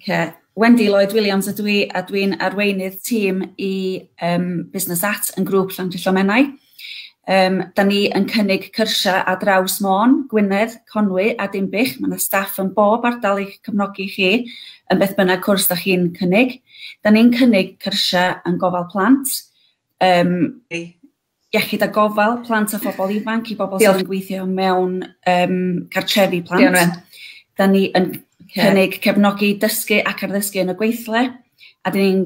Oce. Wendy Lloyd Williams ydw i a dwi'n arweinydd tîm i um, Business At yn grŵp Llandrillo Menai. Um, da ni yn cynnig cyrsiau a draws Môn, Gwynedd, Conwy a Dimbych. Mae yna staff yn bob ardal i'ch cyfnogi chi yn beth bynnag cwrs da chi'n cynnig. Da ni'n cynnig cyrsiau yn gofal plant, um, iechyd a gofal plant a phobol ifanc i bobol sydd yn gweithio mewn um, cartrefi plant. Diolch. Da ni yn cynnig cefnogi dysgu ac arddysgu yn y gweithle, a dyn ni'n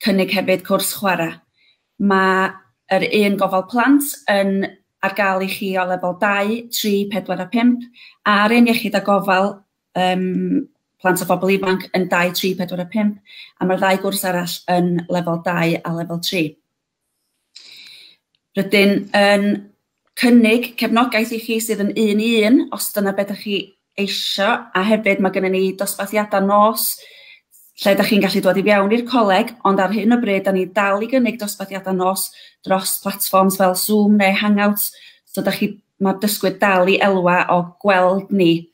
cynnig hefyd cwrs chwarae. Mae yr un gofal plant yn ar gael i chi o lefel 2, 3, 4 a 5, a'r un iechyd a gofal um, plant a phobl ifanc yn 2, 3, 4 a 5, a mae'r ddau gwrs arall yn lefel 2 a lefel 3. Rydyn yn cynnig cefnogaeth i chi sydd yn un i un os dyna be' 'dach chi eisio a hefyd ma' gynnon ni dosbarthiada nos lle 'dach chi'n gallu dod i fewn i'r coleg ond ar hyn o bryd 'dan ni dal i gynnig dosbarthiada nos dros platfforms fel Zoom neu Hangouts so 'dach chi... Ma'r dysgwyr dal i elwa o gweld ni.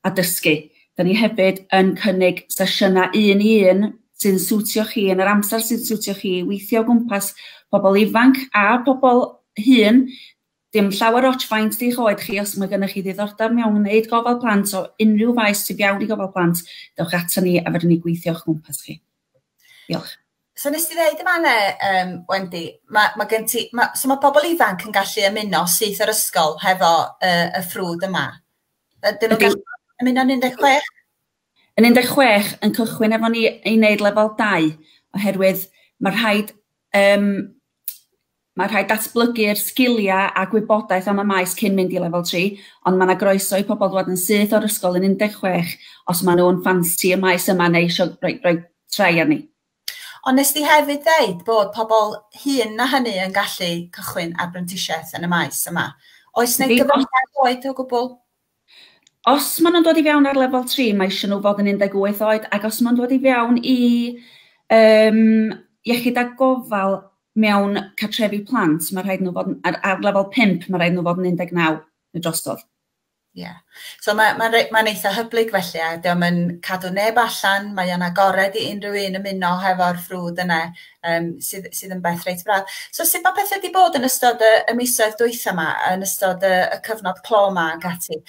a dysgu. Da ni hefyd yn cynnig sesiynau un i un sy'n siwtio chi yn yr amser sy'n siwtio chi i weithio o gwmpas pobl ifanc a pobl hŷn. Dim llawer ots faint di'ch oed chi, os mae gennych chi ddiddordeb mewn gwneud gofal plant o unrhyw faes sy'n iawn i gofal plant, dewch ato ni a fydden ni gweithio o'ch gwmpas chi. Diolch. So nes ti ddeud yma ne, um, Wendy, mae, ma gen ti, ma, so mae pobl ifanc yn gallu ymuno syth o'r ysgol hefo uh, y ffrwd yma? Ydyn nhw'n gallu ymuno yn 16? Yn 16 yn cychwyn efo ni i wneud lefel 2 oherwydd mae rhaid um, mae rhaid datblygu'r sgiliau a gwybodaeth am y maes cyn mynd i lefel 3, ond mae yna groeso i pobl ddod yn syth o'r ysgol yn 16 os maen nhw'n ffansi y maes yma neu eisiau rhoi, rhoi trai arni. Ond wnest ti hefyd ddeud bod pobl hŷn na hynny yn gallu cychwyn ar brentisiaeth yn y maes yma. Oes neu gyfyngiad oed o gwbl? Os maen nhw'n dod i fewn ar lefel 3, mae eisiau nhw fod yn 18 oed, ac os maen nhw'n dod i fewn i um, iechyd a gofal mewn cartrefi plant, mae rhaid nhw fod yn, ar, ar lefel 5, mae rhaid nhw fod yn 19 y drosodd. Ie. So mae mae'n rei- mae'n eitha hyblyg felly a 'di o'm yn cadw neb allan, mae o'n agored i unrhyw un ymuno hefo'r ffrwd yna yym sydd sydd yn beth reit braf. So sut ma' pethe 'di bod yn ystod y y misoedd dwytha 'ma yn ystod y y cyfnod clo 'ma ac ati?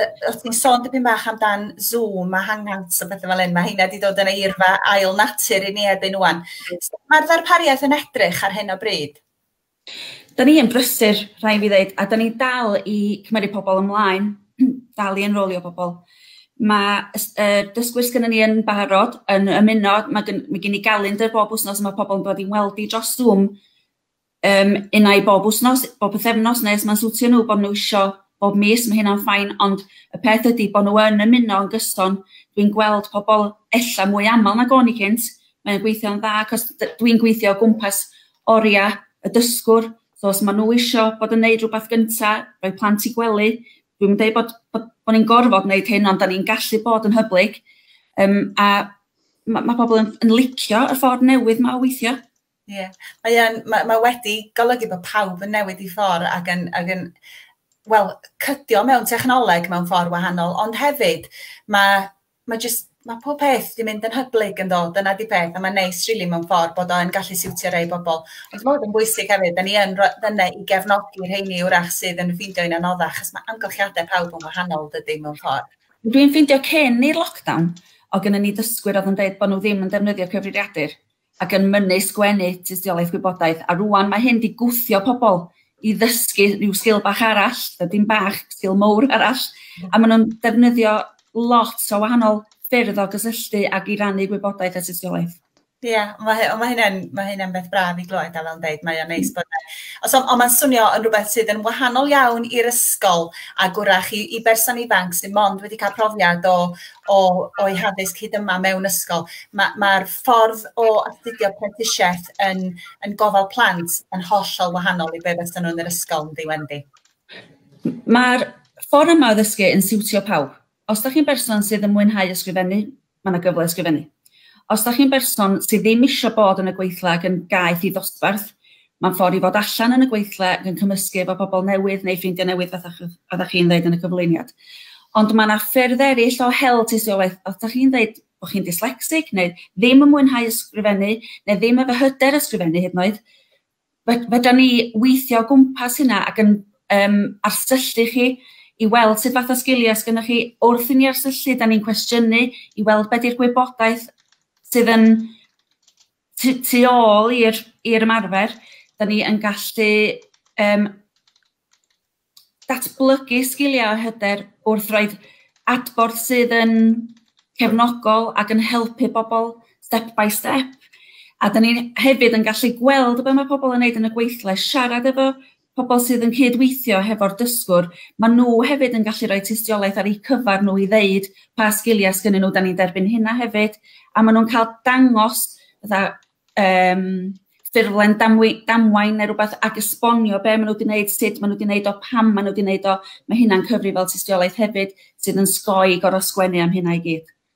Yy o' ti'n sôn dipyn bach amdan Zoom a Hangouts a pethe fel 'yn ma' heina 'di dod yn eirfa ail natur i ni erbyn ŵan. Sut ma'r ddarpariaeth yn edrych ar hyn o bryd? Da ni yn brysur, rhaid fi ddeud, a da ni'n dal i cymeryd pobl ymlaen, dal i enrolio pobl. Ma' y s- yy dysgwyr sgynnon ni yn barod yn ymuno ma' gyn- ma' gin i galendr bob wsnos a ma' pobl yn dod i'n weld i dros Zoom yym unai bob wsnos, bob pythefnos ne' os ma'n siwtio nw bo' nw isio bob mis ma' hynna'n fine ond y peth ydi bo' nw yn ymuno yn gyson dwi'n gweld pobol ella mwy amal nag o'n i cynt, mae o'n gweithio'n dda 'c'os d- dwi'n gweithio o gwmpas Oriau, y dysgwr, so os ma' nhw isio bod yn neud rhywbeth gynta, rhoi plant i gwely, dwi'm yn deud bod bod bo' ni'n gorfod neud hyn ond 'dan ni'n gallu bod yn hyblyg yym a ma' ma' pobol yn yn licio y ffordd newydd 'ma o weithio. Ie mae yn ma' ma' wedi golygu bo' pawb yn newid 'u ffor ag yn ag yn wel cydio mewn technoleg mewn ffor wahanol ond hefyd ma' ma' jyst ma' pob peth 'di mynd yn hyblyg yndo? Dyna 'di peth a ma'n neis rili mewn ffor bod o yn gallu siwtio rei bobol. Ond ma' 'wn yn bwysig hefyd 'dan ni yn ro- fynna i gefnogi rheini 'w'rach sydd yn ffindio hi'n anoddach 'chos ma' amgylchiade pawb yn wahanol dydi mewn ffor. Dwi'n ffindio cyn i'r lockdown o' gynnon ni ddysgwyr odd yn deud bo' n'w ddim yn defnyddio cyfrifiadur ac yn mynnu sgwennu tystiolaeth gwybodaeth a rŵan mae hyn 'di gwthio pobl i ddysgu rhyw sgil bach arall, yy dim bach, sgil mowr arall, a maen nhw'n defnyddio lot o wahanol ffyrdd o gysylltu ac i rannu gwybodaeth a tystiolaeth. Ie, yeah, mae hy- ond mae hynna'n mae hynna'n beth braf i glywed a fel yn deud mae o'n neis bod e. Os on- ond mae'n swnio yn rhywbeth sydd yn wahanol iawn i'r ysgol a gwrach i i berson ifanc sydd mond wedi cael profiad o o o'i haddysg hyd yma mewn ysgol. Ma' ma'r ffordd o astudio prentisiaeth yn yn gofal plant yn hollol wahanol i be' fysa nhw yn yr ysgol yn ddi Wendy. Mae'r ffordd yma o ddysgu yn siwtio pawb. Os da chi'n berson sydd yn mwynhau ysgrifennu, mae yna gyfle i ysgrifennu. Os da chi'n berson sydd ddim eisiau bod yn y gweithle ac yn gaeth i ddosbarth, mae'n ffordd i fod allan yn y gweithle ac yn cymysgu efo pobl newydd neu ffrindiau newydd fatha fatha chi'n ddeud yn y cyflwyniad. Ond mae yna ffyrdd eraill o hel tystiolaeth, os da chi'n ddeud bod chi'n dyslecsig neu ddim yn mwynhau ysgrifennu neu ddim efo hyder ysgrifennu hyd yn oed, fedrwn ni weithio o gwmpas hynna ac yn um, arsyllu chi i weld sut fath o sgiliau sgynnoch chi. Wrth i ni arsyllu, da ni'n cwestiynu i weld beth yw'r gwybodaeth sydd yn tu, tu ôl i'r ymarfer. Da ni yn gallu um, datblygu sgiliau a hyder wrth roi'r adborth sydd yn cefnogol ac yn helpu bobl step by step. A da ni hefyd yn gallu gweld be mae pobl yn neud yn y gweithle, siarad efo pobl sydd yn cyd-weithio hefo'r dysgwr, mae nhw hefyd yn gallu rhoi tystiolaeth ar eu cyfer nhw i ddeud pa sgiliau sgynnyn nhw, da ni'n derbyn hynna hefyd, a maen nhw'n cael dangos fatha um, ffurflen damwy, damwain neu rhywbeth ac esbonio be maen nhw wedi gwneud, sut maen nhw wedi gwneud o, pam maen nhw wedi gwneud o. Mae hynna'n cyfri fel tystiolaeth hefyd sydd yn sgoi gorau sgwennu am hynna i gyd.